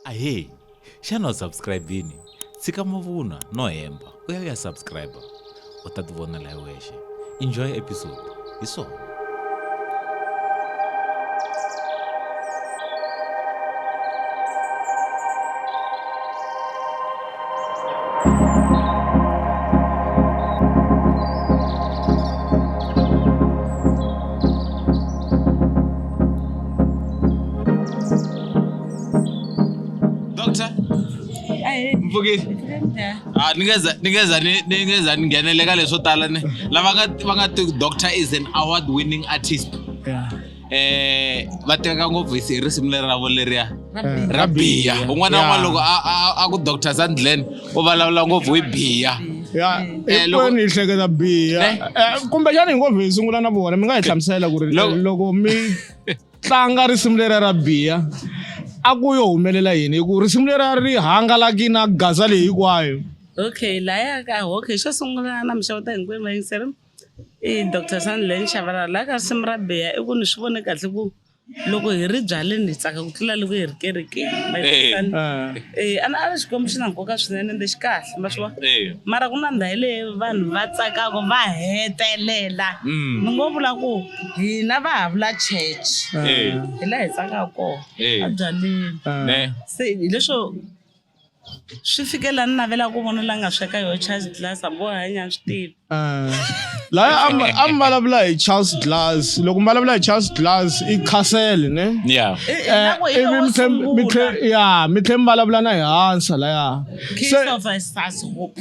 ahee xana u subscribe-ini tshika mavunwa no hemba u ya u ya subscribe u ta ti vonela hi wexe enjoy episode hi swona mpfukisi ah, ni nge za ni ngheneleka leswo tala ni lava va nga doctor is an award winning artist yeah. eh va tiveka ngopfu hi risimu leri ravo leriya eh, ra biya un'wana na un'wana loko a ku doctor sandlen u vulavula ngopfu hi biya ya eh, hinkwenu yi hleketa biya eh? eh, kumbexana hi ngopfu hi sungula na vona mi nga hi hlamusela ku ri loko mi tlanga risimu lera ra biya a ku yo humelela yini hi ku risimu lera ri hangalaki na gaza leyi hinkwayo okay laya ka okay xo sungula na mixavota hinkwenu va yingiseri Eya doctor Sandile ni Shabalala la ka risimu ra biha i ku ni swi vone kahle ku loko hi ri byaleni hi tsaka ku tlula loko hi ri kerekeni ma yi Eh. twisisana? Ah. Eh, a ni- a ni xikwembu xi na nkoka swinene ende xi kahle ma swi vona Eh. mara ku na ndhawu leyi vanhu va tsakaka va hetelela Mm. ni ngo vula ku hina va ha vula church Eh. hi laha hi tsakaka kona Eh. a byaleni Ah. Ne. se hileswo Swi fike la ni navela ku vona la nga sweka yo Charles Glass a boha nya swi tivi. Eh. La a mbalavula hi Charles Glass loko mbalavula hi Charles Glass i Castle ne. Yeah. Eh, ivi mi tlhe mi tlhe ya mi tlhe mbalavula na hi hansa la ya. Christopher Sashope.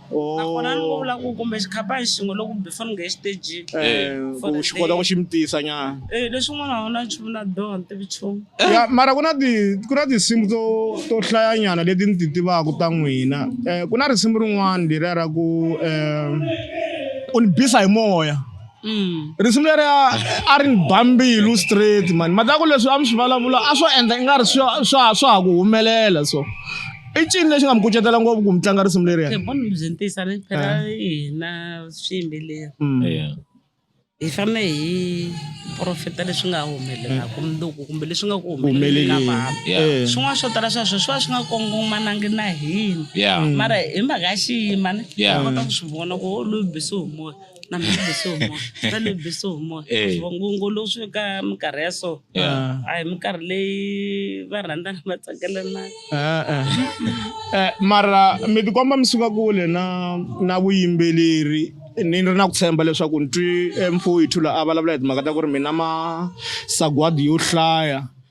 nakona ni ngo vula ku kumbe xikhaphani xin'we loko kumbe foni nge exitejini Eh, ku xi kota ku xi mi tisa nyana Eh, leswin'wana a wu na nchumu na doha ni tivi nchumu ya mara ku na ti ku na tinsimu to to hlayanyana leti ni ti tivaka ta n'wina um ku na risimu rin'wana leriya ra ku um u ni bisa hi moya Mm. risimu leriya a ri ni ba mbilu straight mani mhaka ya ku leswi a mi swi vulavula a swo endla i nga ri swa swa swa ha ku humelela so i ncini lexi nga mi kucetela ngopfu ku mi tlanga risimu leriya Hey, mani byi ntisa ni phela hina swiyimbeleri Mm. Yeah. hi fanele hi profeta leswi nga humelelaka mundzuku kumbe leswi nga ku humeleleni ka vanhu Yeah. Eh. swin'wana swo tala sweswo swi va swi nga kongomanangi na hina Yeah. mara hi mhaka ya xiyimani Yeah. hi kota ku swi vona ku loyi bisi humoya na mi bese hi moya ta ni bese hi moya Eh. vangungu lowu swi ka minkarhi ya so Yeah. a hi minkarhi leyi va rhandzana va tsakelana Eh, eh. Eh, mara mi tikomba mi suka kule na na vuyimbeleri ni ri na ku tshemba leswaku ni twi eh, mfowethu la a vulavula hi timhaka ta ku ri mina masagwadi yo hlaya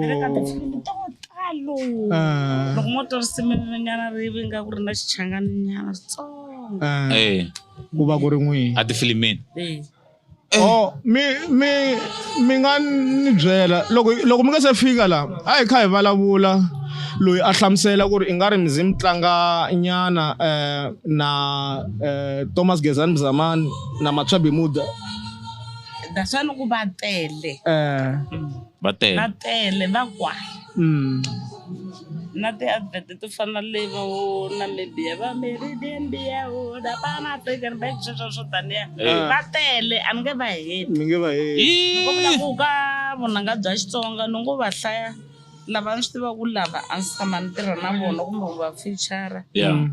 ni le ka tifilimi to talo Ah. loko mo twa risimu nyana ri vi nga ku ri na xichangani nyana switsongo Ah, Eh, ku va ku ri n'wihi a tifilimini Eh, Oh, mi mi mi nga ni byela loko loko mi nga se fika la a hi kha hi vulavula loyi a hlamusela ku ri i nga ri mizi mi tlanga nyana eh, na eh, Thomas Gezani Mzamani na Matshabi Muda that's why ni ku va tele eh va tele va tele va kwala mm. na ti-advert to fana le va wo namibia va meridenbia wo lapana tekenbek sweswo swo taniya eh. va tele a ni nge va heti ni nge va heti ni ko vula ku ka vunanga bya xitsonga ni ngo va hlaya lava ni swi tiva ku lava a ndzi tshama ni tirha na vona kumbe ku va fichara mm.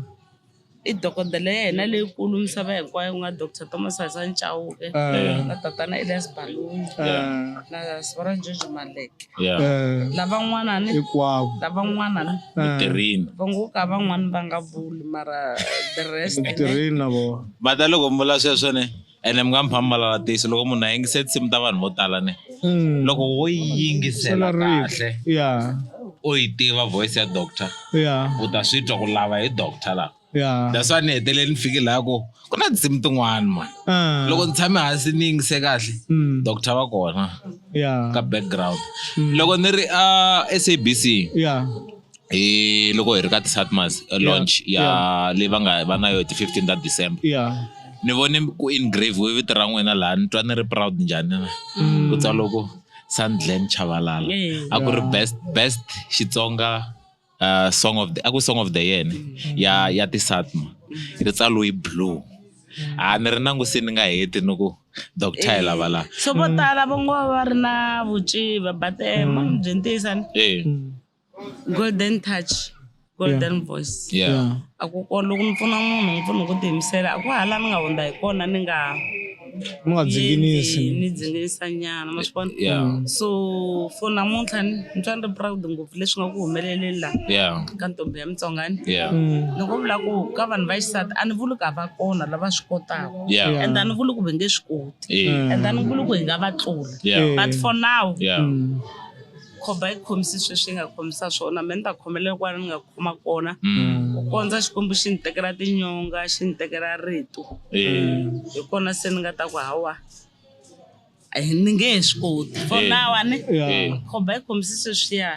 I dokodela ya hina leyikulu misava hinkwayo ku nga Doctor Thomas Hasani Chauke na tatana Elias Baloyi na Sibona George Maleke ya lavan'wana ni hinkwavo lavan'wana ni tirhini va ngo ka van'wani va nga vuli mara the rest tirheni na vona va ta loko mi vula sweswo ne ene mi nga mi famba lala tixo loko munhu a yingise tinsimu ta vanhu vo tala ne hmm. loko wo yi yingisela kahle ya u yi tiva voice ya doctor ya u ta swi twa ku lava hi doctor laha yeah. that's why ni hetelele ni fike laha ko ku na tinsimu tin'wana mani ah. loko ni tshame hansi ni yingise kahle hmm. doctor va kona ka background hmm. loko ni ri a sabc hi loko hi ri ka ti-satmas launch ya leyi va nga va na yo ti fifteen ta december yeah ni vone ku engrave we vito ra n'wina laha ni twa ni ri proud njhani mm. ku tswa loko sandland chavalala a ku ri best best xitsonga uh, song of the a ku song of the year mm. ya ya ti-satma mm. ri tsaloyi blue a ni ri nangusi ni nga heti ni ku doctor hi lava laha so vo tala va ngo va ri na vuciva but um byi ntiyisan Golden touch, golden yeah. voice. Yeah. yeah. A ku ko loko mi pfuna munhu mi pfuna hi ku tiyimisela a ku hala mi nga hundza hi kona ni nga mi nga dzinginisi ni dzinginisa nyana ma swi vona yeah. Mm. so for namuntlha ni twa ni ri proud ngopfu leswi nga ku humeleleni laha yeah. ka ntombi ya mitsongani yeah. mm. ni ku vula ku ka vanhu va xisati a ni vuli ku a va kona lava swi kotaka yeah. and a ni vuli ku va nge swi koti yeah. and a ni vuli ku hi nga va tlula yeah. but for now yeah. mm. khomba yi khomisi sweswi yi nga khomisa swona me ni ta khomelela kwala ni nga khoma kona ku kondza xikwembu xi ni tekela tinyonga xi ni tekela rito Eh. hi kona se ni nga ta ku hawa a hi- ni nge he swi koti for Eh. now a ni Eh. khomba yi khomisi sweswiya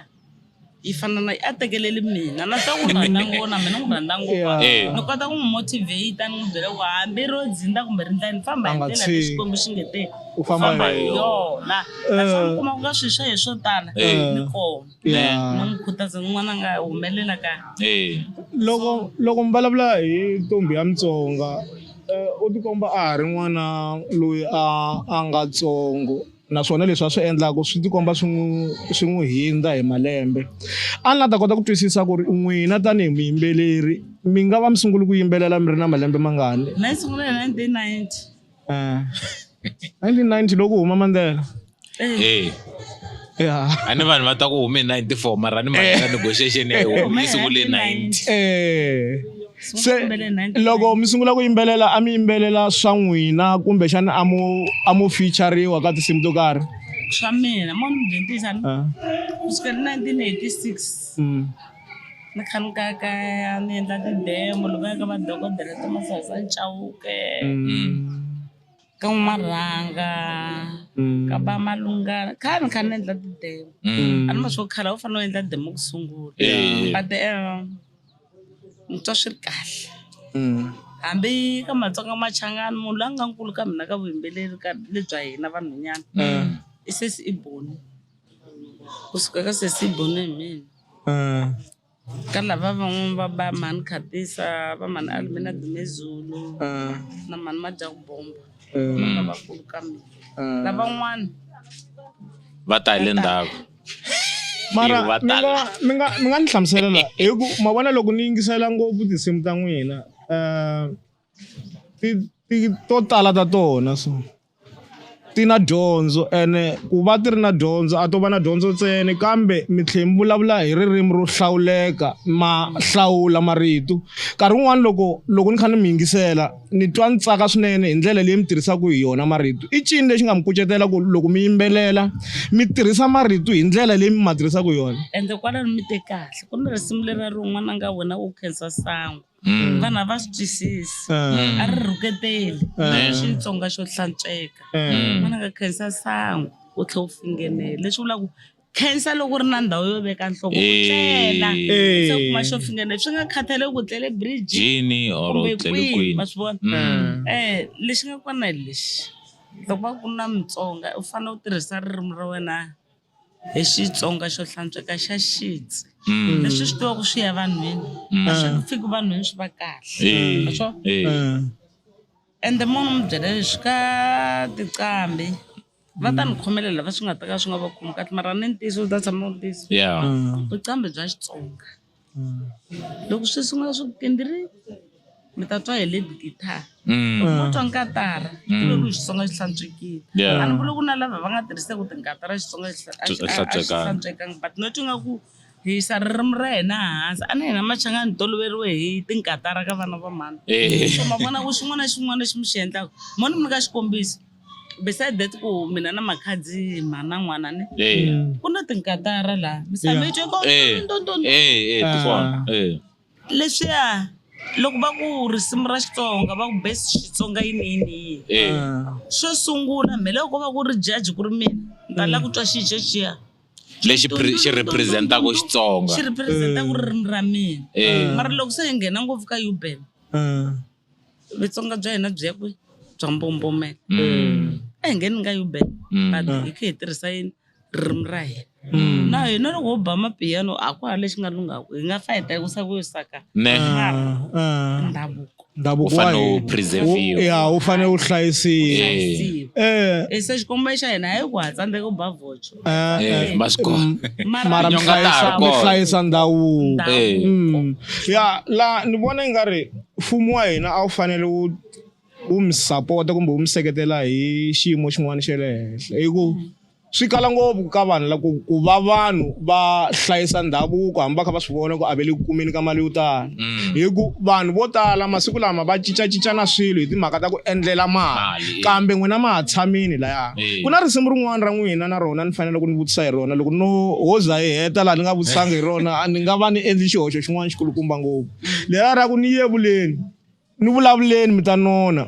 yi fana na a tekeleli mina na swa ku n'wi rhandza ngopfu na mina n'wi rhandza ngopfu Yeah. Eh. ni kota ku n'wi motivate ni n'wi byela ku hambi ro dzinda kumbe ri ndlani famba hi A nga ndlela leyi tshiki. xikwembu xi nge te u famba Famba hi hi yona. yo na naswona mi kuma ku nga swisha hi swo tala Eh. ni kona Yeah. ni n'wi khutaza n'wana nga humelela ka Eh. loko loko mi vulavula hi ntombi ya mutsonga eh, u tikomba a ha ri n'wana loyi a a nga tsongo naswona leswi a swi endlaka swi tikomba swi n'wi swi n'wi hindza hi malembe a ni la ta kota ku twisisa ku ri n'wina tanihi muyimbeleri mi nga va mi sungule ku yimbelela mi ri na malembe mangani na yi sungula hi 1990 Eh, 1990 loko u huma mandela Eh, ya a ni vanhu va ta ku hume hi 94 mara ni mahela negotiation ya yona Hume yi sungule hi 90 Eh, se Sungule 1990. loko mi sungula ku yimbelela a mi yimbelela swa n'wina kumbexana a mu a mu featureriwa ka tinsimu to karhi swa mina mo ni mudentisa Ah, kusukela 1986 mm. Ni kha ni kayakaya ni endla ti-demo loko ya ka madokodela ta masangu ya Chauke ka N'wamarhanga ka va Malungana kha ni kha ni endla ti-demo a ni ma swo khale a wu fanele u endla demo ku sungula Eh. but um ni twa swi ri kahle hambi ka Matsonga Machangani munhu la nga nkulu ka mina ka vuyimbeleri ka lebya hina vanhwanyana i sesi i Boni. Kusuka ka sesi Boneh Mhini ka lava van'wani va ba mhani Khatisa va mhani Almina Dumezulu na mhani Madyaku Bomba lavakulu ka mina lavan'wani va ta hi le ndzhaku mara Ivo va mi nga tala. mi nga mi nga ni hlamusela la hi ku ma vona loko ni yingisela ngopfu tinsimu ta n'wina um ti ti to tala ta tona so. ti na dyondzo ene ku va ti ri na dyondzo a to va na dyondzo ntsena kambe mi tlhela mi vulavula hi ririmi ro hlawuleka ma hlawula marito nkarhi wun'wani loko loko ni kha ni mi yingisela ni twa ni tsaka swinene hi ndlela leyi mi tirhisaka hi yona marito i ncini lexi nga mi kucetela ku loko mi yimbelela mi tirhisa marito hi ndlela leyi mi ma tirhisaka hi yona ende kwalano mi te kahle ku ni risimu lera rin'wana nga wena wo khensa sangu. Mm. vanhu a va swi twisisi Mm. a ri rhuketeli Mm. xitsonga xo hlantsweka Mm. n'wana ka khensa sangu u tlhe u fingenele leswi vula ku khensa loko u ri na ndhawu yo veka nhloko u tlela Eh. se u kuma xo fingenele swi nga khathaleki ku tlele bridge jini or kumbe tlele kwihi kwini ma swi vona Mm. eh lexi nga kona hi lexi loko va ku na mutsonga u fanele u tirhisa ririmi ra wena hi Xitsonga xo hlantsweka xa sheets Mm. leswi swi tivaku swi ya vanhwini Mm. a swi fiki vanhwini swi va kahle Eh, Ma swo? eh. Mm. ende munhu mi byela leswi ka tiqambi va ta ni khomelela va swi nga ta ka swi nga va khomi kahle mara ni ntiyiso u ta tshama u ri ntiyiso Yeah. Mm. vuqambi bya xitsonga loko swi sungula swi pindiri mi ta twa hi lead guitar Mm. loko mo twa nkatara Mm. ivi ku xitsonga xi hlantswekile Yeah. a ni vuli ku na lava va nga tirhiseki ti nkatara xitsonga xi hla- a xi- a- a xi Hlantswekanga. hlantswekanga but no twi nga ku hi yisa ririmi ra hina hansi a na hina machanga ni toloveriwe hi tinkatara ka vana va mhani Eh. so ma vona ku xin'wana na xin'wana lexi mi xi endlaka mo ni mi nyika xikombiso beside that ku mina na makhadzi ma na n'wana ni Eh. Mm. ku na tinkatara laha misava Yeah. yi twe ko Eh. ndo, ndo, ndo. Eh, eh, Ah. tikona. Eh. leswiya loko va ku risimu ra xitsonga va ku best xitsonga yini yini yini Eh. Ah. xo sungula mhe loko va ku ri jaji ku ri mina ni ta la ku twa xijo xiya Lexi pre- xi representaka xi Xitsonga. representa ku ririmi ra mina Eh. mara loko se hi nghena ngopfu ka uben Ah. Vutsonga bya hina byi ya kwi bya mbombomela Mm. a hi nge ni nga yuben Mm. but hi khe hi tirhisa yini ririmi ra hina Mm. na hina loko ho ba mapiyano a ku ha lexi nga lungaku hi nga fayita hi ku sa ku yo saka Ne. Ah, ndhavuko ndhavuko Wu fanele wa wu hina. preserve-iwa. Wu- ya wu fanele wu hlayisiwa Eh. hlayisiwa Eh, e se xikombo xa hina hayi ku ha tsandzeka ku ba vocho Eh, eh, eh, Vasco. Mm, mara mi hlayisa mi hlayisa ndhavuko eh. mm. ya la ni vona i nga ri mfumo wa hina a wu fanele wu wu mi sapota kumbe wu mi seketela hi xiyimo xin'wana xa le henhla hi ku mm. swi kala ngopfu ka vanhu la ku ku va vanhu va hlayisa ndhavuko hambi va kha va swi vona ku a ve le ku kumeni ka mali yo tala mm. hi ku vanhu vo tala masiku lama va cincacincana swilo hi timhaka ta ku endlela mali eh. kambe n'wina ma ha tshamini laya eh. ku na risimu rin'wana ra n'wina na rona ni fanele ku ni vutisa hi rona loko no ho za hi heta laha ni nga vutisanga hi rona a ni nga va ni endli xihoxo xin'wana xikulukumba ngopfu lela ra ku ni yevuleni ni vulavuleni mi ta nona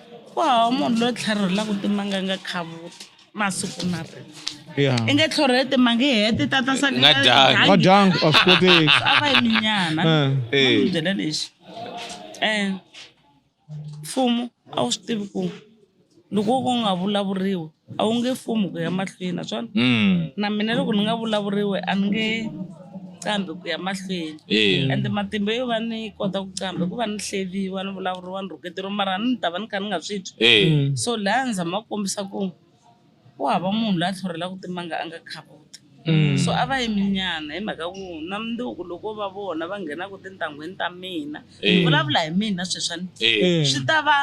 ku hava munhu loyi tlharhelaka timanga nga khavuti masiku na rena Yeah. i nge tlhorhele timanga i hete tata sale Nga dyanga. Nga dyanga, a swi koteki. a va yi minyana Eh. Eh. N'wi byela lexi um mfumo a wu swi tivi ku loko wo ka u nga vulavuriwi a wu nge fumi ku ya mahlweni naswona Mm. na mina loko ni nga vulavuriwe a ni nge qambi ku ya mahlweni Eh. ende matimba yo va ni kota ku qamba hikuva ni hleriwa ni vulavuriwa ni rhuketero mara ni ta va ni kha ni nga swi twi Eh. so laha ni zama ku kombisa ku ku hava munhu la tlhorhelaka timanga a nga khavuti So a va yimi nyana hi mhaka ku na mundzuku loko va vona va nghenaka tintangwini ta mina ni Eh. vulavula hi mina sweswani Eh. swi ta va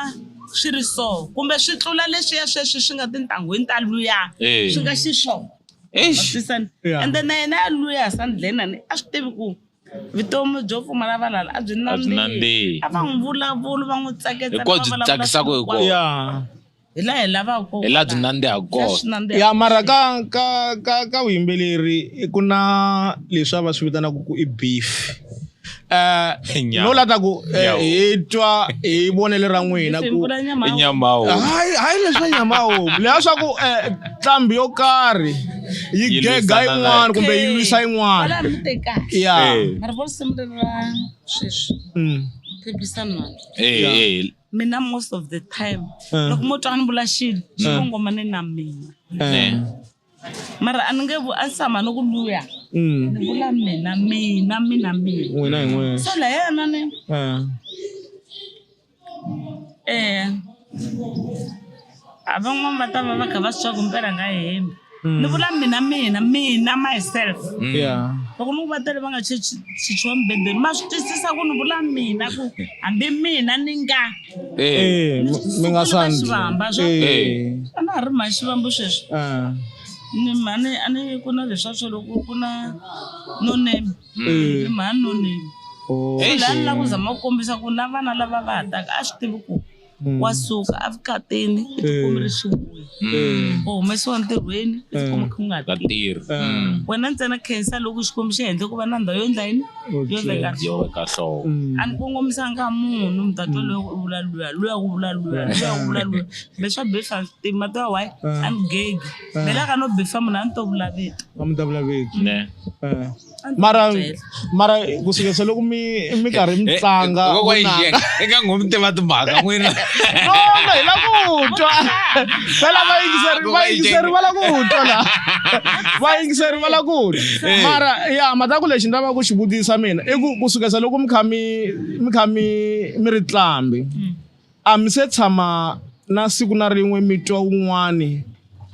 swi ri so kumbe swi tlula leswiya sweswi swi nga tintangwini ta luya Eh. swi nga xiswona Eish. Twisisani? Yeah. ende na yena ya luya sandleni ani a swi tivi ku vutomi byo pfumala valala a byi A byi nandzihi. nandzihi a va n'wi vulavuli va n'wi tsaketsa Hinkwawo byi tsakisaka hinkwawo. ya hi laha hi lavaka kona hi laha byi nandziha kona ya mara ka ka ka ka vuyimbeleri ku na leswi a va swi vitanaka ku i beef eh, no la ta ku eh, hi twa hi vonele ra n'wina ku nyamawo hayi hayi leswa nyamawo leha swa ku eh, nqambi yo karhi yi gega yin'wana kumbe yi lwisa yin'wana ya mara vo simulelo ra sweswi mm. phikisana mina most of the time eh. loko mo twa ni vula xilo xi eh. kongomane na mina eh. mara a ni nge a ni tshama ni ku luya mm. ni vula mina mina mina mina so la yena ni um A van'wana va ta va va kha va swi tiva ku mpela nga hembi ni vula mina mina mina myself yeah loko ni ku va tele va nga chichi- chichiwa mibedweni ma swi twisisa ku ni vula mina ku hambi mina ni nga Eh, eh mi- mi nga Sukile va xivamba, swa- sandli eh a na ha ri mhani xivambo sweswi ah ni mhani a ni ku na leswa swo loko ku na no name eh ni mhani no name oh la ni la ku zama ku kombisa ku na vana lava va ha taka a swi tivi ku wa suka evukatini i tikumi ri swi vuya Mm. u humesiwa ntirhweni i tikumi ku nga Ka tirhi tirhi. Mm. wena ntsena khensa loko xikwembu xi endle ku va na ndhawu yo endla yini yo endla ka Yo ka hlovo. a ni kongomisanga munhu mi ta twa loyi u vula luya luya u vula luya luya u vula luya kumbe swa befa tima to wayi a ni gegi melaka no befa munhu a ni to vula vito a mi ta vulaveki Ne. Eh. mara mara ku fika se loko mi mi karhi mi eh, tlanga eh, vunanga eka ngomi tiva timhaka n'wina no no hi la ku twa phela va yingiseri va yingiseri va la ku twa la va yingiseri va la ku twa eh. mara ya mhaka ku lexi ni lavaka ku xi vutisa mina i ku ku suka se loko mi kha mi mi kha mi mi ri tlambi mm. A mi se tshama na siku na rin'we mi twa wun'wani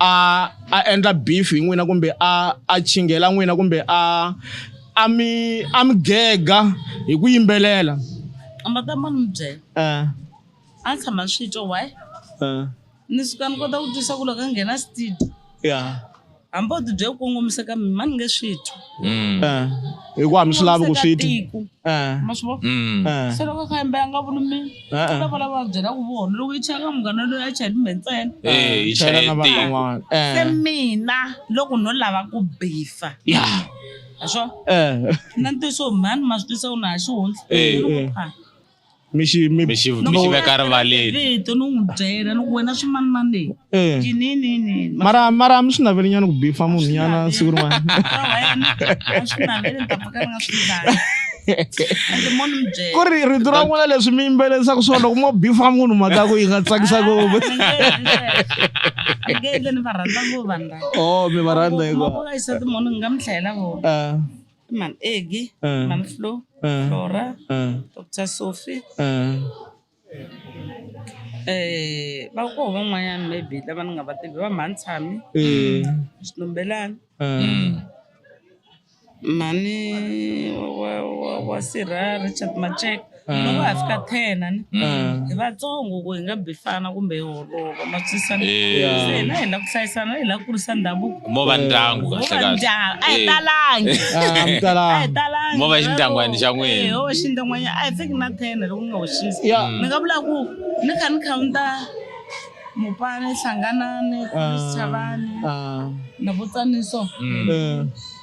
a a endla beef hi n'wina kumbe a a chinghela n'wina kumbe a a mi a mi gega hi ku yimbelela? Makamani mi byela. A ni tshama ni swi twa why? Ni suka ni kota ku twisa ku loko a nghena studio ya hambi o tibye ku kongomisa ka mina ni nge swi twi mm. eh, hikuva mi swi lavi ku swi twi eh. ma swi vona mm. eh. se loko ka yimbe a nga vuli mina u lava lava va byela ku vona loko yi chaya ka munghana loyi a chaya timbe ntsena yi chaya na van'wana se mina loko no lava ku bifa ya a swo na ntiyiso mhani ma swi twisa ku na ha xihundla mi xi mi mi xi mi xi veka rivaleni vito ni n'wi byela ni ku wena swimanimani leyi Eh. tininini mara mara mi swi naveli nyana ku bifa munhu nyana siku rin'wana ku ri rito ra n'wina leswi mi yimbelelisaka swona loko mo bifa munhu mhaka ya ku yi nga tsakisa ngopfu ni va rhandza ngopfu vanhu lava o Oh, mi va rhandza hikuva Mavona isati munhu ni nga mi hlayela vona Ah. Mam Egi, ah. Mam Flo, ah. Flora, ah. Dr. Sophie. Ah. Eh, va ko van'wanyana maybe lava ni nga va tivi va mhani tshami eh. xitumbelani ah. mm. mhani wa sirha richard macheka loko va ha fika ten a ni hi vatsongo ku hi nga bifana kumbe hi holova ma twisisana Yeah. se hina hi la ku hlayisana hi la ku kurisa ndhavuko mo va ndyangu Wo va kahlekahle ndyangu a hi Eh. talangi Ah, a hi mtalangi talangi Mo va xindyangwani xa n'wina. Eh, ho va xindyangwani a hi fiki na ten loko ni nga hoxisi Yeah. ni nga vula ku ni kha ni khawunta mupani hlanganani Ah. chavani Ah, na vutsaniso eh,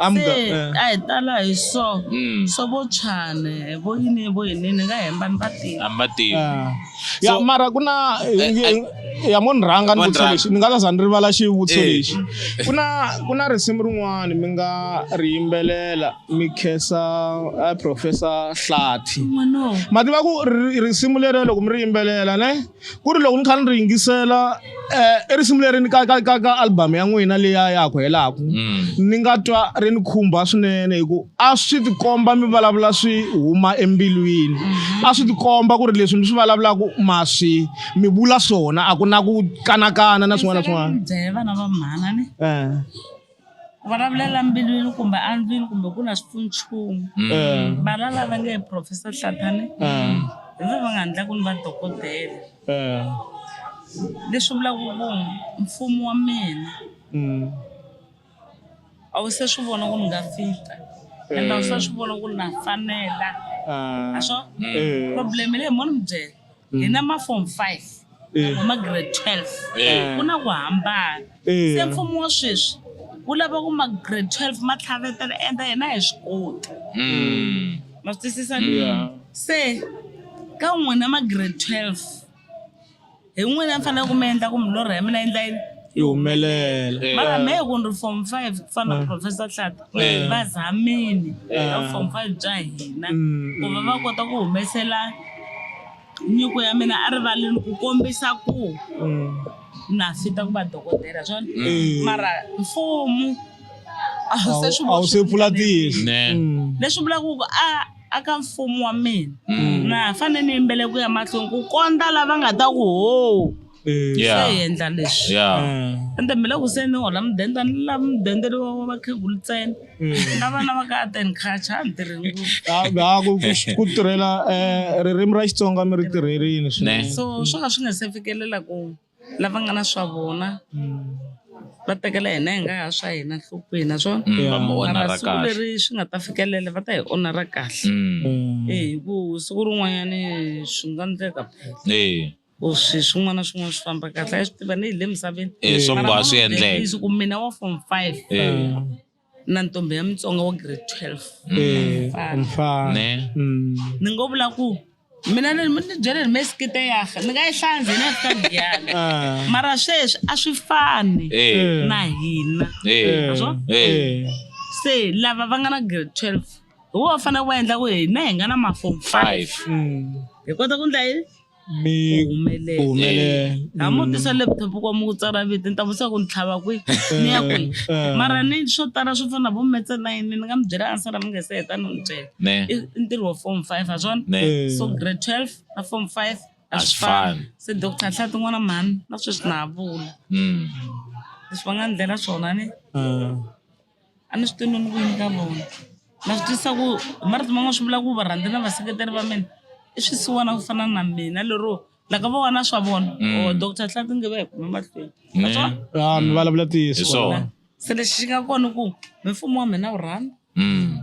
I'm se go- eh. a hi tala hi so Mm. so vo chane vo yini vo yini ni nga hemba ni va tiva a mi va tivi Ah. ya So- mara ku na eh, ya mo ni rhanga ni Mo ni vutisa rhanga. lexi ni nga ta za ni rivala xivutiso Eh. lexi ku na ku na risimu rin'wana mi nga ri yimbelela mi khensa eh, professor hlati n'wanowo ma tiva ku ri- risimu leriya loko mi ri yimbelela ne ku ri loko ni kha ni ri yingisela um i risimu leri ni ka ka ka ka album ya n'wina leya ya ku helaku mm. ni nga twa ri ni khumba swinene hi ku a swi tikomba mi vulavula swi huma embilwini mm-hmm. a swi tikomba ku ri leswi mi swi vulavulaka ma swi mi vula swona a ku na ku kanakana na swin'wana na swin'wana ku vulavulela mbilwini kumbe andlwini kumbe ku na xipfunchumu Mm. vana lava nge professor hlathane Mm. hi vona va nga endla ku ni va dokodela Eh. leswi vulaka ku mfumo wa mina Mm. a wu se swi vona ku ni nga fita ende a wu se swi vona ku ni na fanela Ah. a swo Eh. problem leyi mo ni mi byela hi na mafom five Eh. na magrade twelve Eh. ku na ku hambana Eh. se mfumo wa sweswi wu lava ku magrade twelve ma tlhavetela enda hina hi swi koti Mm. ma swi twisisa Yeah. se ka n'wina magrade twelve hi n'wina mi fanele ku mi endla ku milorho ya mina yi ndla yini yi humelela Eh. mara me ku ni ri form five ku fana na professor hlata Eh. va zamini va Eh. form five bya hina Mm, ku va va kota ku humesela nyiko ya mina a rivaleni ku kombisa ku Mm. na fita ku va dokodela swona Eh. mara mfumu a wu se swi a wu se vona pfula tihlo Ne. Mm. leswi vulaka ku a a ka mfumo wa mina na fanele ni yimbele ku ya mahlweni ku kondza lava nga ta ku ho swi ya hi endla leswi ya ende mi le ku se ni hola mudende a ni la mudende lowa wa vakhegulu ntsena na vana va ka ateni khacha a ni tirhi ngopfu Ah, ah, ku- ku- ku tirhela eh, ririmi ra xitsonga mi ri tirherini swinene. ne so swo ka swi nga se fikelela ku lava nga na swa vona va tekela hina hi nga ha swa hina nhlokweni naswona Mm, va mi onara mara siku kahle leri swi nga ta fikelela va ta hi onara kahle Mm, Mm. Eh, hi ku siku rin'wanyani swi nga ndleka phela eh ku swi swin'wana na swin'wana swi famba kahle a yi swi tiva ni hi le misaveni Eh, swo Mara mboha swi mama endleka. Denise, ku mina wa form five Eh, na ntombi ya mutsonga wa grade twelve Eh, umfana. ne Mm. ni ngo vula ku mina ni ni byele ni mesikite yaha ni nga yi hlanzi na ka ndiyana Ah. mara sweswi a swi fani Eh, na hina eh, Naswo? eh. se lava va nga na grade twelve hi wo va fanele va endla ku hina hi nga na mafom five five Mm. hi kota ku ndla yini mi humelele humelele ha mu tisa laptop kwa mu ku tsala vito ni ta vutisa ku ni tlhava kwihi ni ya kwihi Eh. mara ni swo tala swo fana na vo metse na yini ni nga mi byela ansala mi nga se heta ni n'wi byela ne i i ntirho wa form five ha swona ne Eh. so grade twelve na form five a A swi swi fani. fani se doctor nhla tin'wana mhani na sweswi na ha vula Mm. leswi va nga ndlela swona ni Ah. A ni swi tivi no ni ku yini ka vona na swi twisisa ku hi marito man'wani swi vula ku varhandzi na vaseketeri va mina i swisiwana ku fana na mina lero la ka vona swa vona or doctor Hlatse nge va hi khome mahlweni ma swa Ah, mi vulavula ntiyiso Hi swona. se lexi xi nga kona i ku hi mfumo wa mina wu rhandza Mm.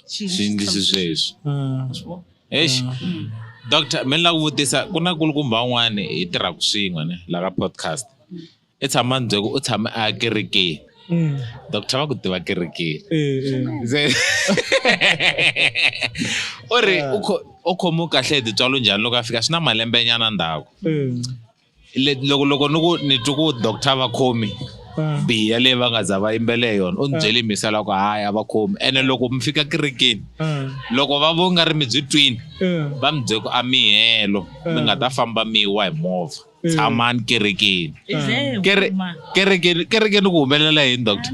swiendlisi sweswi mm. eish mm. doctor mi ni la ku vutisa ku na kulukumba un'wana hi tirhaka swin'we ne la ka podcast i tshama ni byele ku u tshame a kerekeni mm. doctor va ku tiva kerekeni eh, eh. u ri u khomiwe kahle hi titswalo njhani loko a fika swi na malembe nyana ndhaku loko loko ni ku ni twi ku doctor va khomi ah. biya leyi va nga za va yimbele hi yona u ni ah. byele misa loko hayi a va khomi ene loko mi fika kerekeni ah. loko va vo nga ri mi byi twini va mi bye ku a mihelo mi nga ta famba mi wa hi movha tshamani kerekeni kerekeni kerekeni ku humelela yini doctor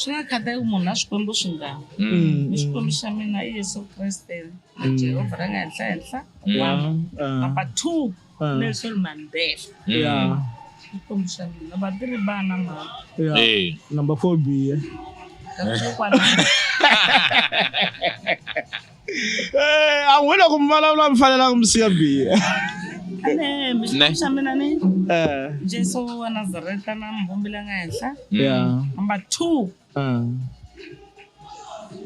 swi nga khathaleki ku munhu na swikwembu swingani Mm. ni xikwembu xa mina i yesu kreste na Mm. jehovha ra nga henhla henhla Yeah, uh, number two uh, nelson mandela yeah, xikwembu xa mina number three vana mama yeah. Eh. Number four biye. That's what I want. Eh, a n'wina ku mi vulavula mi fanelanga mi siya biya Ne. xa mina ni Eh, jesu wa nazareta na muvumbi la nga henhla ya number two Ah,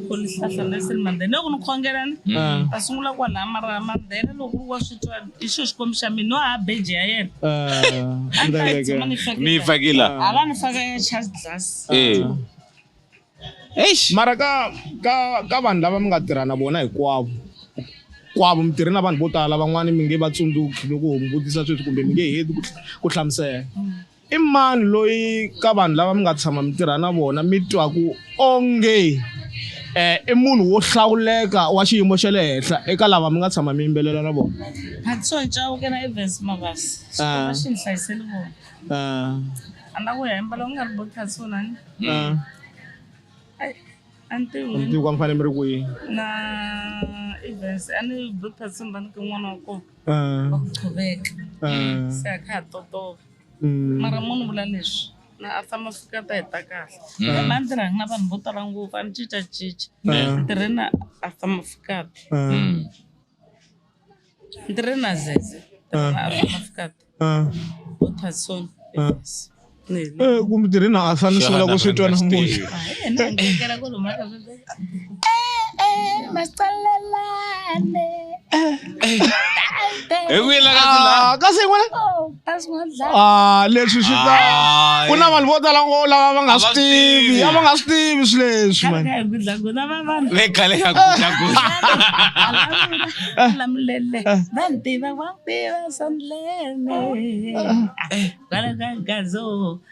ku lihlahla nelson mandela loko ni khongelani ah, ta sungula kwalaha mara mandela loko ri wa swi twa i xo xikwembu xa mina no ha beji ya yena ah, a ni ta yi tshama ni mi yi fakela fakela hala ni faka ya charge glass Eh. Eish. mara ka ka ka vanhu lava mi nga tirha na vona hinkwavo kwavo mi tirhe na vanhu vo tala van'wani mi nge va tsundzuki loko ho mi vutisa sweswi kumbe mi nge heti ku hl- ku hlamusela i mani loyi ka vanhu lava mi nga tshama mi tirha na vona mi twaku onge um i munhu wo hlawuleka wa xiyimo xa le henhla eka lava mi nga tshama mi yimbelela na vona Hatso Chauke na Evans Mabasi. Ah. Xikomba xi ni hlayisele vona. um A ni la ku ya yimbela u nga ri bo Thatsonani. na Ai, a ni tivi a ni tivi ku a mi fanele mi ri kwihi na events a ni be phasi ni va ni ka n'wana wa kona Ah, wa ku qhuveka ah, se a kha ha totova mm, mara mo ni vula leswi na a famba fika ta heta kahle ema a ndzi rhangi na vanhu vo tala ngopfu a ni cincacinca ah, tirheni a famba fikata ah. Mm. kumtirhina a swa ni sungula ku swi twa namuntlha Hey, we like that. Kasi wala. Ah, leswi swi ta ku na vanhu vo tala ngo lava va nga swi tivi a va nga swi tivi swi leswi man ve khale ka gudlagudla lamulele va ni tiva wa tiva sandlene kwala ka gazo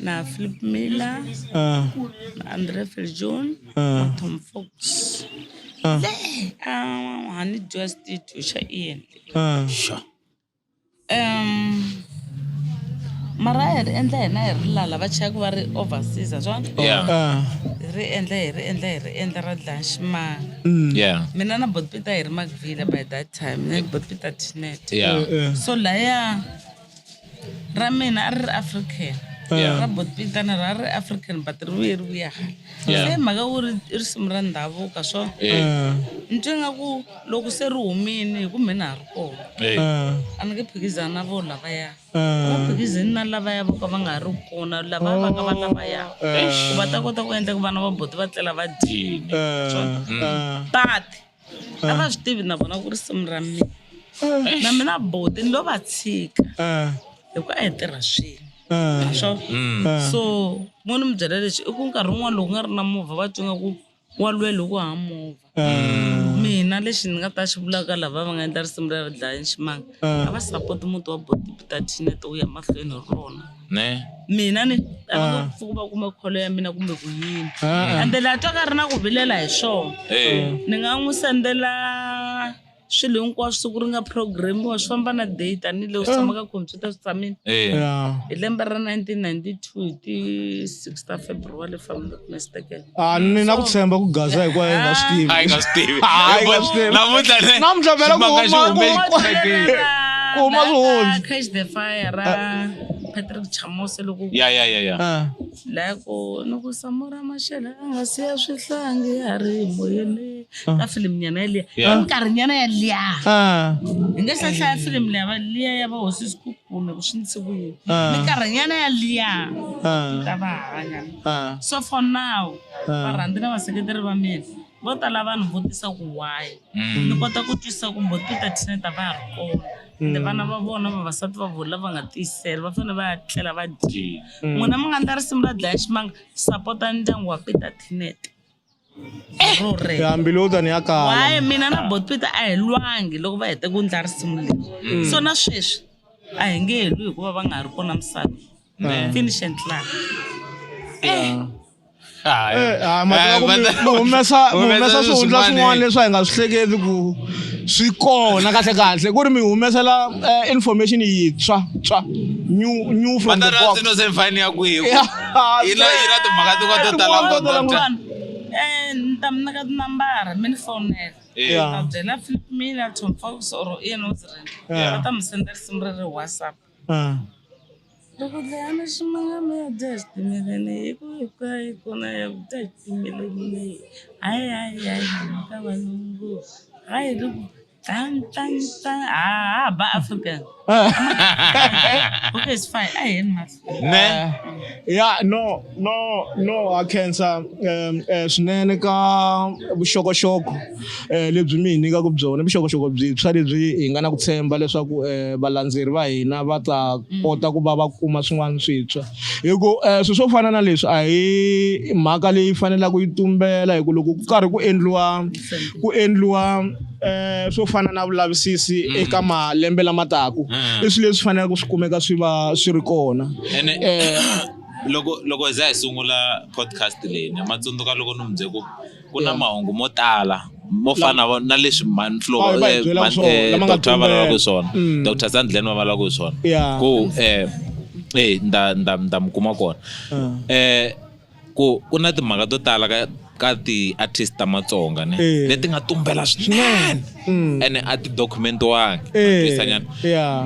na Philip Miller, ah. na Andre Filjon, ah. na Tom Fox. Ah. Le um hani dua studio xa Ian. Ah. Sure. Um mara hi ri endla hina hi ri lala va chaya ku va ri overseas swona ah. hi ri endla hi ri endla hi ri endla ra dlanximanga mm. mina na botpita hi ri makvile by that time ne botpita tinet so laya ra mina a ri ri african Yeah. ra botpitana ra ri african but ri vuye ri vuya hala Yeah. se hi mhaka ku ri i risimu ra ndhavuka so Eh, Ah, ni twe nga ku loko se ri humile hi ku mina ha ri kona eh. ah, a ni nge phikizani na vo lavaya a ah. va phikizini na lavaya vo ka va nga ha ri kona lava va ka va lavaya ku va ta kota ku endla ku vana va boti va tlela va dyile Ah, ah. but a va swi tivi na vona ku risimu ra mina na mina boti ni lo va tshika eh, hikuva a hi tirha swilo eh, swo eh. so mo ni mi byela lexi i ku nkarhi wun'wana loko nga ri na movha va twi nga ku wa lwela hi ku haha movha Eh, mina lexi ni nga ta xi vulaka lava va nga endla risimu ra dlaya nximanga eh. a va sapoti muti wa boti peter tinet wu ya mahlweni hi rona ne mina ni a va nga pfuki va kuma kholo ya mina kumbe ku yini Ah, ende laha twaka ri na ku vilela hi swona Eh, ni nga n'wi sendela swilo hinkwaswo siku ri nga programiwa swi famba na day tanihileswi swi tshama ka computer swi tshamile eh. yeah. hi lembe ra 1992 hi ti 6 ta february if I'm not mistaken Ah, mm, ni na ku tshemba ku gaza hi kwayo nga swi tivi a yi nga swi tivi hayi nga swi tivi namuntlha ne namuntlha vela ku huma ku huma swihundzi catch the fire ra ah. Patrick Chamose loko ya ya ya ya ah. la ku no ku samora mashela a nga siya swihlangi ya ri moyeni ka film nyana ya liya nkarhi nyana ya liya hi nge sa hlaya film liya va liya ya va hosi sikukume ku swi ndzi vuyini nkarhi nyana ya liya ta va hanya Ah. so for now Ah. varhandzi na vaseketeri va mina vo tala vanhu vo tisa ku why ni kota ku twisisa ku mbo tita thina ta va ha ri kona ende vana va vona vavasati va vona lava nga tiyisela va fanele va ya tlela va dyile n'wina mi nga ndla risimu ra dlaya ximanga sapota ndyangu wa peter tinet ro rero hambilota ni ya kala waye mina na botpita a hi lwangi loko va hete ku ndla risimu leri Mm. so na sweswi a hi nge helwi hikuva va nga ha ri kona misava Mm. finish and clap Eh, ah, mhaka ku mi- mi humesa mi humesa swihundla swin'wana leswi a hi nga swi hleketi ku swi kona kahle kahle ku ri mi humesela eh, information yintshwa tswa new new from the box Matarasi no se mfani ya kwihi? Yeah. ina ina timhaka ti va to tala ngopfu Vanhu, eh, ni ta mi nyika tinambara mi ni fonela Yeah. va byela philip mina tom fox or ian ozren Yeah. va ta mi senda risimu ri ri whatsapp Ah. loko dlayana ximangama ya dya xitimeleni hi ku hi ka hi kona ya ku dya xitimeleni leyi hayi hayi hayi ka valungu hayi loko Tan, tan, tan. Ah, ba African. okay, it's fine. I am not. Ne? Yeah, no, no, no, I can't. Um, eh, swinene ka vuxokoxoko eh, lebyi mi hi nyikaka byona vuxokoxoko byintshwa lebyi hi nga na ku tshemba leswaku eh, valandzeri va hina va ta mm. kota ku va va kuma swin'wana swintshwa hi ku swilo swo fana na leswi a hi mhaka leyi fanelaka yi tumbela hi ku loko ku karhi ku endliwa ku endliwa eh swo fana na vulavisisi mm. eka malembe lama taku mm. i swilo leswi faneleke swi kumeka swi va swi ri kona eh loko loko za hi sungula podcast leyi na matsundzuka loko ni mu byele ku ku na mahungu mo tala mo fana na leswi manhlodr eh, eh, va lavaka ku swona mm. dr sandlen va va lavaka ku swona ku um e nda nda nda mi kuma kona um ku ku na timhaka to tala ka ka ti-artist ta matsonga ne eh. leti nga tumbela swinene mm. ene a ti document-wangi eh,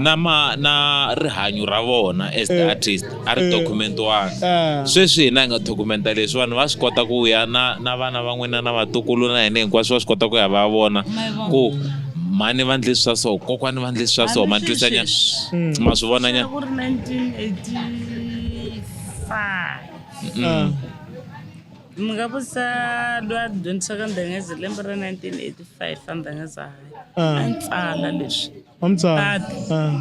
na ma na rihanyo ra vona as the eh, artist a ri document-wangi sweswi hina hi nga documenta leswi vanhu va swi kota ku ya na na vana va n'wina na vatukulu na hina hinkwaswo va swi kota ku ya va vona ku mhani va ndlisi swa so kokwani va ndlisi swa so ma twisanyana ma swi vonanyana Ah. mi nga vutisa lwa dyondzisaka ndhengeze lembe ra 1985 a ndhengeza hayi Ah. a ni tsala leswi wa mutswari Tata. Ah,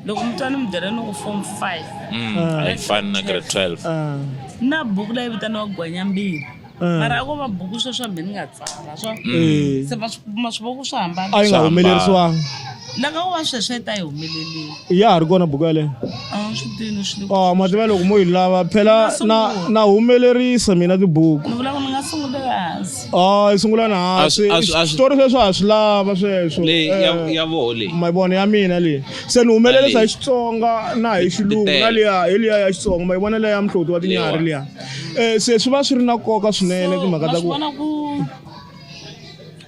loko mutswari mi byela ni ku form five a yi fani na grade 12 ah. na buku leyi vitaniwa gwanyambili Eh. mara a ko va buku sweswi hambi ni nga tsala swa eh. se va swi kuma swi va ku swi hambana a yi nga humelerisiwangi laka ku va sweswi yi ta yi humelelile ya ha ri kona buku yaleyo oh mativa loko mo yi lava phela na na humelerisa mina tibuku ni vula ku ni nga sungula hansi oh yi sungula na hansi xitori sweswo ha swi lava sweswo leyi ya eh, ya voho leyi ma vona ya mina leyi se ni humelerisa hi xitsonga na hi xilungu na liya hi liya ya xitsonga ma yi vona leya mhloti wa tinyari liya Eh, se swi va swi ri na nkoka swinene timhaka ta ku vona ku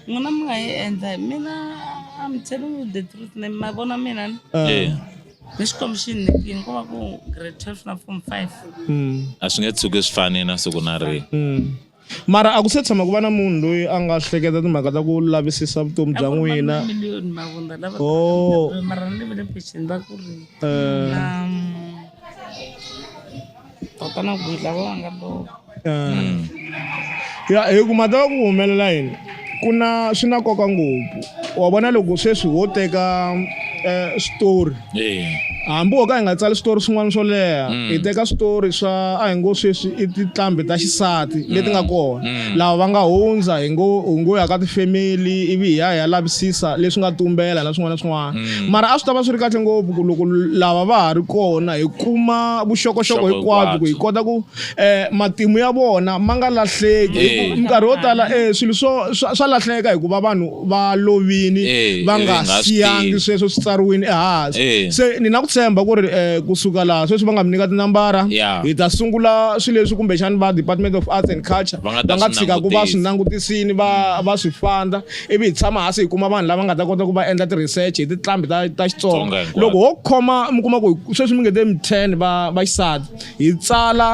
n'wina mi nga yi endla hi mina I'm telling you the truth ne ma vona mina ni Eh, ni xikwembu xi ni nekile ko va ku grade twelve na form five mm, a swi nge tshuki swi fani na siku na rini mm. mara a ku se tshama ku va na munhu loyi a nga hleketa timhaka ta ku lavisisa vutomi bya n'wina miliyoni mavunda lava Oh. mara ni vile peceni va ku ri Eh, um, tota na ku yidla va nga lova mm. ya hi ku mhaka ya ku humelela yini ku na swi na nkoka ngopfu wa vona loko sweswi wo teka um switori hambi wo ka hi nga tsali switori swin'wana swo leha mm. hi teka switori swa a hi ngo sweswi i tinqambi ta xisati mm. leti nga kona mm. lava va nga hundza hi ngo hi ngo ya ka tifemeli ivi hi ya hi ya lavisisa leswi nga tumbela na swin'wana na swin'wana mm. mara a swi ta va swi ri kahle ngopfu ku loko lava va ha ri kona hi kuma vuxokoxoko hinkwabyo ku hi kota ku um matimu ya vona ma nga lahleki eh. minkarhi yo tala um swilo swo swa lahleka hikuva vanhu va lovini eh, va nga siyangi sweswo swi tsariwini ehansi se ni na ku tshemba ku ri um kusuka laha sweswi va nga mi nyika tinambara hi ta sungula swilo leswi kumbexani va department of arts and culture va nga tshika ku va swi langutisini va va swi fanda ivi hi tshama hasi hi kuma vanhu lava nga ta kota ku va endla ti-research hi tinqambi ta ta xitsonga loko ho khoma mi kuma ku sweswi mi nge te mi ten va va xisati hi tsala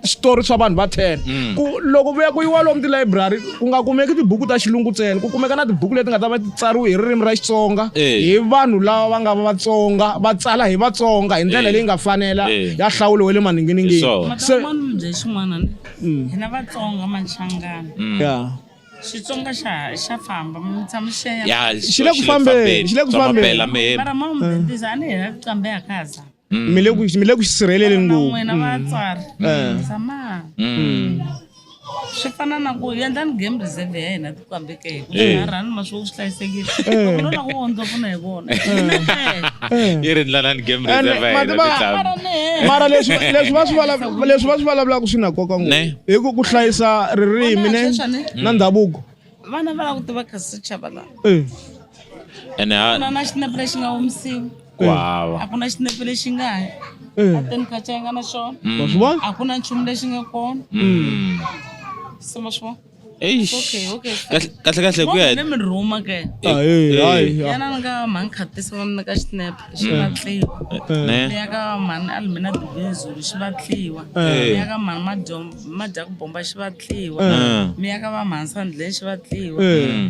switori swa vanhu va ten mm. ku loko vuya ku yiwa lomu tilayibrari ku nga kumeki tibuku ta xilungu ntsena ku kumeka na tibuku leti nga ta va ti tsariwe hi ririmi ra xitsonga eh. hi vanhu lava va nga va vatsonga va tsala hi vatsonga hi ndlela eh. leyi nga fanela eh. ya hlawulo wa le maninginingini mm. hina vatsonga manhlangano mm. xitsonga xa xa famba mutshama xi ya ya Xi xi le ku fambeni, xi le ku Tsonga fambeni. phela mi hemba. mara mom ndzi a ni hela ku qambe ya kaza mi le ku mi le ku xisirheleleni na ngopfu n'wina vatswari Eh. tshama Mm. swi fana na ku endlani game reserve ya hina tikwambeke hi ku Eh. rhani ma swi swi hlayisekile Eh. loko no la ku wondza pfuna hi vona Eh. yi ri ndlalani game Ene, reserve ya hina mativa- mitlangu mara leswi leswi va swi vulavula- leswi va swi vulavulaka swi na nkoka ngopfu Ne. hi ku ku hlayisa ririmi ne Sweswani, na ndhavuko vana va la ku tiva kasi chava la Eh, ene a ku na na xinepe lexi nga omisiwi ku hava a ku na xinepe lexi nga hi eh. ateni ka cayinga na xona wa swi vona a ku na nchumu lexi nga kona Mm. se ma swi vona Eish. Okay, okay. Kahle- kahle kahle ku ya hi- mi rhuma ke Hayi, hayi, hayi. yana ni ka mhani khatisa va mi nyika xinep xi Mm. vatliwa Ne. leya ka mhani almina dubezulu xi vatliwa Eh. leya ka mhani madyom- madyaku bomba xi vatliwa Eh. miya ka va mhani sandleni xi vatliwa Eh.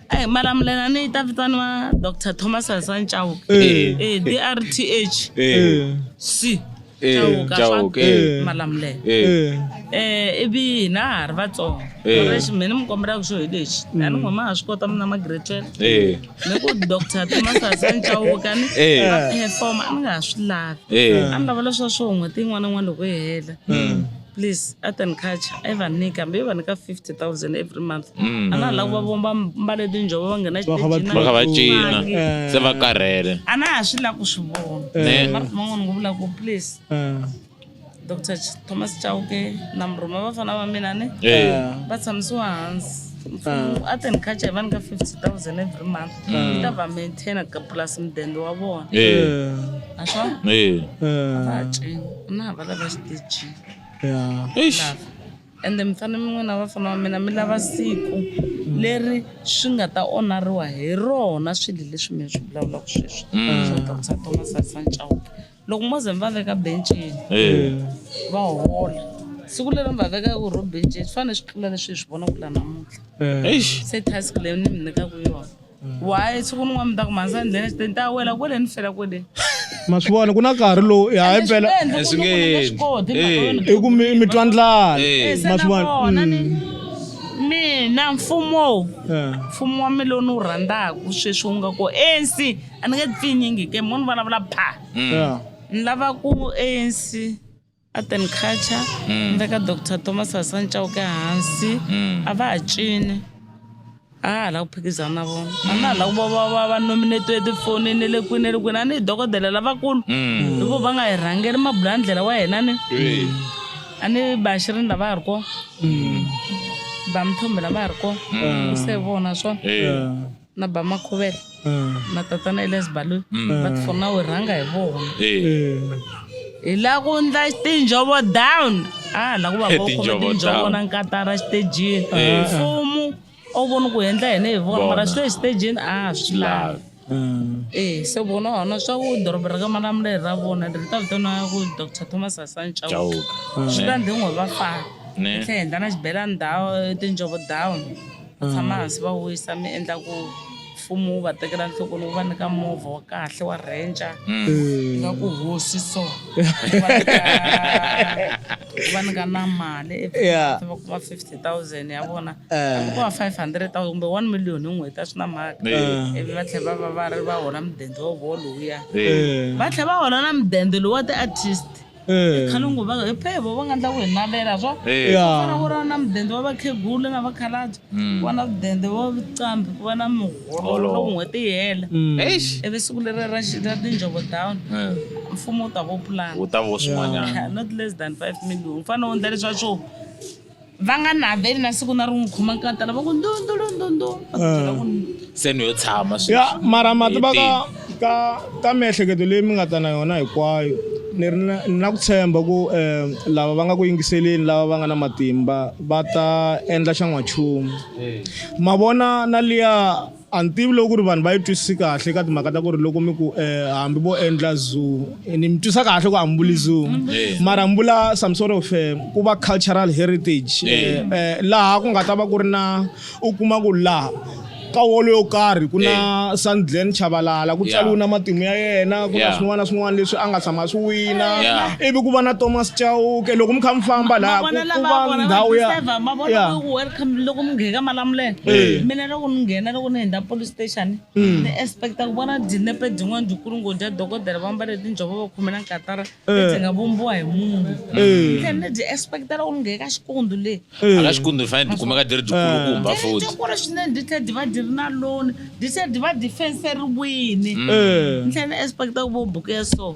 Eh, mara mulenani yi ta vitaniwa dr thomas hasani chauka Eh. Eh, drth Eh. c Eh, chauka Chauka, swa eh. malamulelo Eh. Eh, ivi hina ha ri vatsongo Eh. lexi mina mi kombelaka xo hi lexi a ni ngoma ha swi kota mina magretwela Eh. ni ku dr thomas hasani chauka ni Eh. a performa a ni nga ha swi lavi Eh. a ni lava leswa swo n'hweti yin'wana na yin'wana loko yi hela please art and culture a yi va nyika hambi yi va nyika 50000 every month Mm. a na ha lava ku va vona va mbale tinjhovo va nghena Va kha va va kha va cina Eh. se va karhele a na ha swi lava ku swi vona Eh. mara man'wana ngo vula ku please Eh, dr Ch- thomas chauke na murhuma vafana va mina ni eh. va tshamisiwa hansi mfumo art and culture va nyika 50000 every month yi ta va maintaina ka plus mudende wa vona Eh, a swona eh. va ha cini ku na hava lava xitejini ya Eish. lava ende mi fanele mi n'wina vafana wa mina mi lava siku leri swi nga ta onariwa hi rona swilo leswi mi swi vulavulaka sweswi swa ta ku sa thomas asanchauke loko mo ze mi va veka bencini eh. va hola siku leri mi va vekaka ro bencini swi fanele swi tlula leswi hi swi vonaka la namuntlha eh. se task leyi ni mi nyikaka yona eh. why siku ni n'wana mi ta ku mhansa ni dlena xiteni ta wela kwele ni fela kwele ma swi vona ku na nkarhi lowu hi hayi mpela i ku mi twa ndlala ma swi vona mina mfumo mfumo wa mina lowu ni wu rhandzaka sweswi wu nga ku ensi a ni nge pfinyingi ke mo ni vulavula pha Yeah. ni lava ku anc art and culture ni veka dr thomas hasani chauke hansi a va ha cini a ha la ku phikizana na vona a na ha la ku va va- va va nominatiwe etifonini ni le kwini ni le kwini a ni hi dokodela lavakulu hikuva va nga hi rhangeli mabula ndlela wa hina ni a ni bashirini lava ha ri kona bamthombe lava ha ri kona ku se vona swona Yeah. na bamakhuvela mm. na tatana elias baloi mm. va tifona u rhanga hi vona hi la ku ndla tinjhovo down a la ku va vakhome tinjhovo na nkatara xitejini mfumu a wu voni ku endla hene hi vona mara swi le xitejini a swi lavi Mm. ee se vona hona swa ku doroba ra ka malamuleli ra vona ri ta vitaniwa ku dr thomas hasan chauka mm. swi ta ndhi n'we va fana tlhe hindla na xibelani dawu tinjhovo down Va tshama hansi va wisa mi endla ku mfumo wu va tekela nhlokweni wu va nyika movha wa kahle wa ranger nga ku hosi so wu va nyika- wu va nyika na mali every Yeah. month va kuma 50000 ya vona Eh. Hambi ko va 500000 kumbe 1 million hi n'hweti a swi na mhaka Eh. ivi va tlhela va va va ri va hola mudende wa vona lowuya Eh. va tlhela va hola na mudende lowu wa ti-artist Eh. khale ngo va phe vo va nga ndla ku hi navela swa Eh. Ya. fana ku ri na mudende wa vakhegula na vakhalabye ku va na mudende wa vuqambi ku va na miholo Holo. loko n'hweti yi hela Mm. eish ivi siku leri ra xi- ra tinjhovo down Eh, mfumo wu ta vo pulana wu ta vo swin'wanyana not less than five million u fanele u endla leswa swo va nga naveli na siku na rin'we khoma nkata lava ku ndundulundundu va ku byela ku se ni yo tshama sweswi. ya mara ma tiva ka ka ka miehleketo leyi mi nga ta na yona hinkwayo ni ri na ni na ku tshemba ku um lava va nga ku yingiseleni lava va nga na matimba va ta endla xa n'wanchumu ma vona na liya A ni tivi loko ku ri vanhu va yi twisisi kahle ka timhaka ta ku ri loko mi ku um hambi vo endla zoo ni mi twisa kahle ku hambuli zoo mm, mm. mara mbula some sort of eh, ku va cultural heritage eh, eh, laha ku nga ta va ku ri na u kuma ku laha ka wolo yo karhi ku na sandglen chavalala ku tsaliwe na matimu ya yena ku na swin'wana na swin'wana leswi a nga tshama swi wina ivi ku va na thomas chauke loko mi kha mi famba laha ku va ndhawu ya loko mi ngheka malamulelo mina loko ni nghena loko ni hundza police station mm. ni expecta ku vona dinepe din'wana dikulu ngo dya dokodela va mbale tinjhovo va khomela nkatara eh. lebyi nga vumbiwa hi mungu eh. then ni byi expecta loko ni ngheka xikundu leyi eh. aka xikundu hi fanele dikumeka di ri dikulukumba foti dikulu swinene di tlhela di va di ri na loni di tlhela di va difenseriwini mm. ni tlhela ni expecta ku vo buku ya so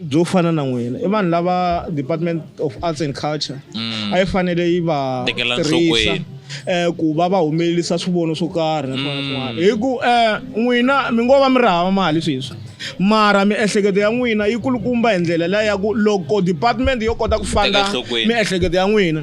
byo fana na n'wina i vanhu lava department of arts and culture mm. a yi fanele yi va tirhisa eh ku va va humelelisa swivono swo karhi na swin'wana swin'wana mm. hi ku eh n'wina mi ngo va mi ri hava mali sweswi mara miehleketo ya n'wina yi kulukumba hi ndlela leyi ya ku loko department yo kota ku fanda miehleketo ya n'wina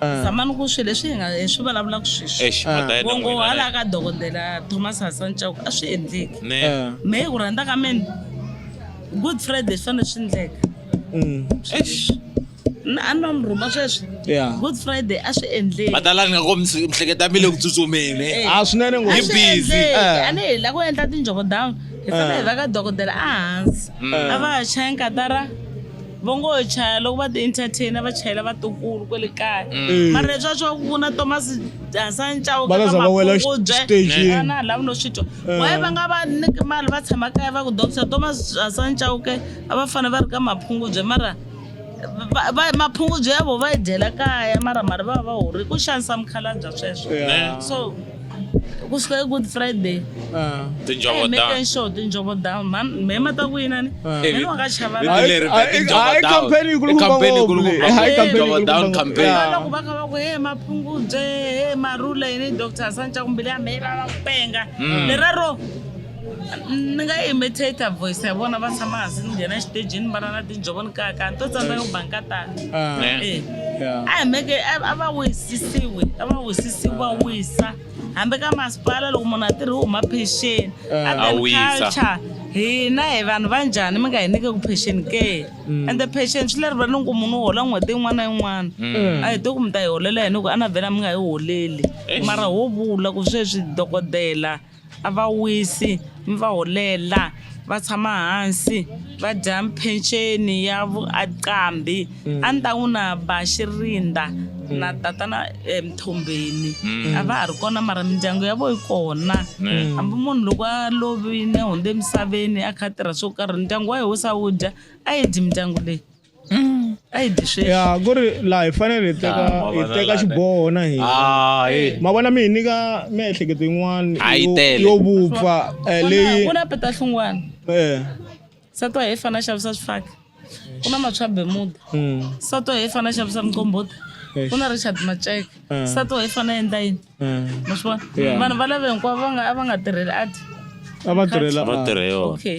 Ah. zamani ku swilo leswi hi nga hi swi vulavulaka sweswi Eish, mhaka ya vongo n'wina, hala ka dokodela thomas hassan chauke a swi endleki ne Ah. me hi ku rhandza ka mina good friday swi fanele swi endleka Mm. Eish. na a no mi rhuma sweswi Yeah. good friday a swi endleki madalani nga ko mihleketa mi le ku tsutsumeni Eh. Ah, swinene a ngopfu. swi busy. endleki Ah. a ni hi la ku endla tinjoko down hi fanele hi va ka dokodela a hansi a va chaya nkatara va ngo chaya loko va ti-entertainer va chayela vatukulu kwele kaya mm. mara leswi a swi va ku na thomas hasancawu ka makungubyena lava no swi twa eh. waye va nga va niki mali va tshama kaya va ku dokisa thomas hasancawu ke a va fanele va ri ka maphungubye mara maphungubye ya vo va yi dyela kaya mara mali va va va horile ku xanisa mukhalabya sweswo so ku suka good friday ah. tinjhovo down show tinjhovo down man me ma ta ku yini ni ni wa ka chava la hi hi campaign ku lu campaign ku lu hi campaign ku down campaign la ku ba ka ba ku he maphungudze he marula yini doctor sancha kumbile ya me la penga leraro ni nga imitate voice ya vona va tshama hansi ni nghena exitejini va ra na tinjhovo ni kaka ni to tsandzeka ku banga tani Ah, Eh. Eh. yeah. a hi meke a- a va wisisiwi a va wisisiwi va wisa hambi ka masipala loko munhu a tirhi u huma pension Eh. A A wisa. culture hina hi vanhu va njhani mi nga hi nyike ku pension ke Mm. and the pension swi leri va ni ku munhu u hola n'hweti yin'wana na yin'wana Mm. a hi to ku mi ta hi holela yini ku a na vhela mi nga hi holeli Eh. mara ho vula ku sweswi dokodela a va wisi mi va holela va tshama hansi va dya peceni ya vu a qambhi a ni ta n'wi na ba xi rindza na tatana emithombeni a va ha ri kona mara mindyangu ya vona yi kona hambi munhu loko a lovile hundze emisaveni a kha a tirha swo karhi ndyangu wa yena wu se wu dya a yi dyi mindyangu leyi. Mm, a yi dyi sweswi ya ku ri laha hi fanele hi teka Ah, ma hi vona teka laha- xiboho na hina Ah, eh. ma vona mi hi nyika miehleketo yin'wana A yi yo- tele. yo vupfa eh, leyi ku na peta hlungwana eh, sato hi fana xavisa swifaki ku na matshwa bemuda mm, sato hi fana xavisa muqombhota Eish. ku na richard maceke Mm. sato hi fana endla yini eh. ma swi vona Yeah. vanhu va lave hinkwavo va nga a va nga tirheli adi a va tirhela va ah. tirhe yona okay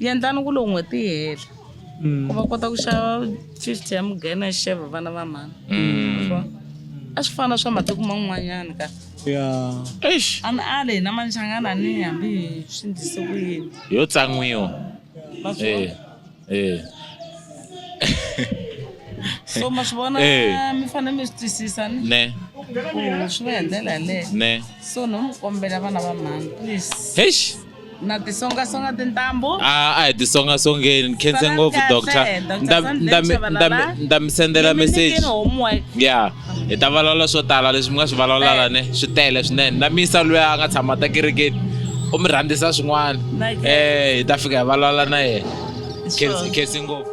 Yendlani ku loko n'hweti yi hela ku va kota ku xava 50 ya mugena yi xava vana va mhani a swi fana swa matiko man'wanyana ka ya eish a ni ale hina manchangana ni hambi hi swi ndlise ku yini yo tsan'wiwa ma swi eh vona? eh so ma swi vona Eh. mi fanele mi swi twisisa ni ne ku swi va hi ndlela yaleyo ne so no mi kombela vana va mhani please eish na tisongasonga tintambu a a hi tisongasongeni ni khense Sala ngopfu kahle, doctor Dr. Nda- Sandile nda mi- Chabalala. nda mi- nda mi sendela Ndzi mi message nyikile homework ya hi ta vulavula swo tala leswi mi nga swi vulavulala ne swi tele swinene na misa loyi a nga tshama ta kerekeni u mi rhandzisa swin'wana Like- um hi ta fika hi vulavula na yena Sure. Khense- khense ngopfu